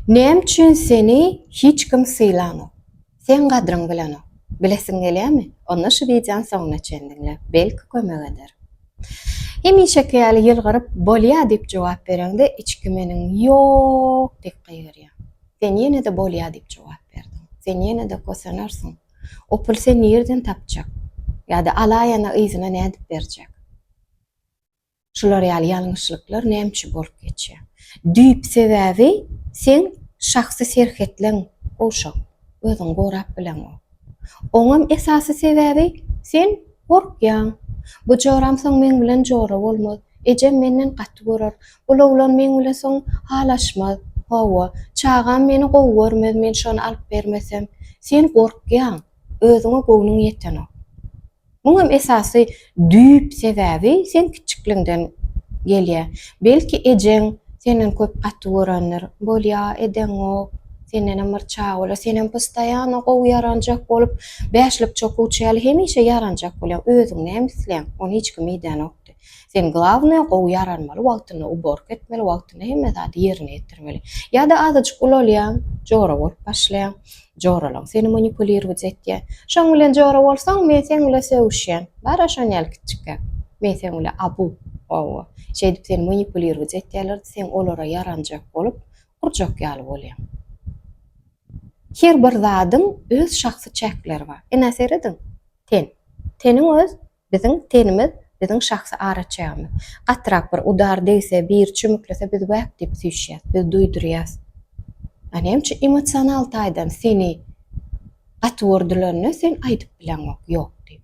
Näme üçin seni hiç kim sylanok? Seň gadryň bilenok. Bilesiň gelýärmi? Onda şu wideony soňuna çen diňle. Belki kömek eder. Hemişeki ýaly ýylgyryp bolýa diýip jogap bereňde içki meniň ýok diýip gygyryýar. Sen ýene-de bolýa diýip jogap berdiň. Sen ýene-de kosenarsyň. O puly sen nirden tapjak? Ýa-da alaýana yzyna nädip berjek? Şular ýaly ýalňyşlyklar näme üçin bolup geçýär? Düýp sebäbi seň şahsy serhetleň gowşak, özüňi gorap bileňok. Oňam esasy sebäbi sen gorkýaň. Bu joram soň meň bilen jora bolmaz. Ejem menden gaty görer. Bul oglan meň bilen soň halaşmaz. Hawa, çagam meni gowy görmez men şony alyp bermesem. Sen gorkýaň, özüňe göwnüň ýetenok. Muňam esasy düýp sebäbi seň kiçikligiňden gelýä. Belki ejeň senden köp gaty görendir. Bolýa, edeňok, sendenem bir çag bolýa. Senem postoýano gowy ýaranjak bolup, bäşlik çokuçy ýaly hemişe ýaranjak bolýaň. Özüň näme isleýäň? Ony hiç kim idänokdy. Sen glawnaýa gowy ýaranmaly wagtynda uborka etmeli wagtynda hemme zady ýerine ýetirmeli. Ýa-da azajyk ulalýaň, jora bolup başlaýaň. Joralaň seni manipulirowat etýär. Şoň bilen jora bolsaň men seň bilen sögüşýän. Bara şon ýaly kiçjikräk. Men seň bilen abu, owo. Şeýdip seni manipulirowat etýärler-de sen olara ýaranjak bolup urjak ýaly bolýaň. Her bir zadyň öz şahsy çäkleri bar. Ine serediň. Ten. Teniň öz Biziň tenimiz, biziň şahsy araçägimiz. Gatyrak bir udar degse, biri çümüklese biz wäk diýip süýşýäs, biz duýdurýas. A näme üçin emosional taýdan seni gaty gördülerine sen aýdyp bileňok, ýok diýip.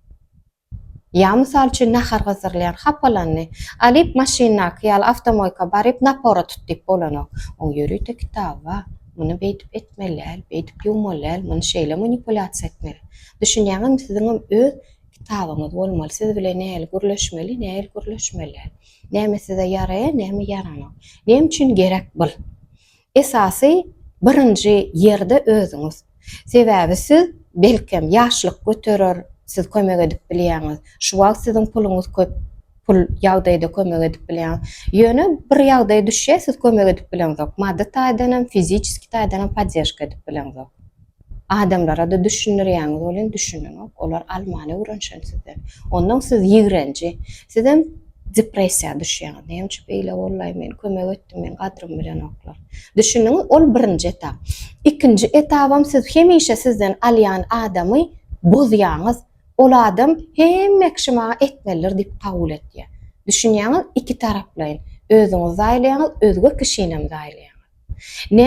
Ýa mysal üçin nahar gyzdyrylýan, hapalandy. Alyp maşyndaky ýaly awtomoýka baryp napora tut diýip bolanok. Oň ýörite kitaby bar. Muny beýdip etmeli däl, beýdip ýuwmaly däl, muny şeýle manipulýasiýa etmeli. Düşünýäňizmi siziňem öz Kitabyňyz bolmaly, siz bilen nähili gürleşmeli, nähili gürleşmeli. Näme size ýaraýar, näme ýaranok. Näme üçin gerek bul? Esasy birinji ýerde özüňiz. Sebäbi siz belkem ýaşlyk göterer, siz kömek edip bilýäňiz. Şu wagt siziň puluňyz köp, pul ýagdaýda kömek edip bilýäňiz. Ýöne bir ýagdaý düşýär, siz kömek edip bileňzok. Maddy taýdan hem, fiziçeski taýdan hem poddežka edip bileňzok. Adamlara-da düşündirýäňiz welin düşünenok, olar almaly öwrenşen sizden. Onnoň siz ýigrenji, sizem depressiýa düşýäňiz. Näme üçin beýle boldy-aý, men kömek etdim, meniň gadrymy bilenoklar. Düşündiňiz, ol birinji etap. Ikinji etabam siz hemişe sizden alýan adamy bozýaňyz. Ol adam hemme kişi maňa etmelidir diýip kabul etýär. Düşünýäňiz, ikitaraplaýyn. Özüňizi zaýalaýaňyz, özge kişinem zaýalaýaňyz.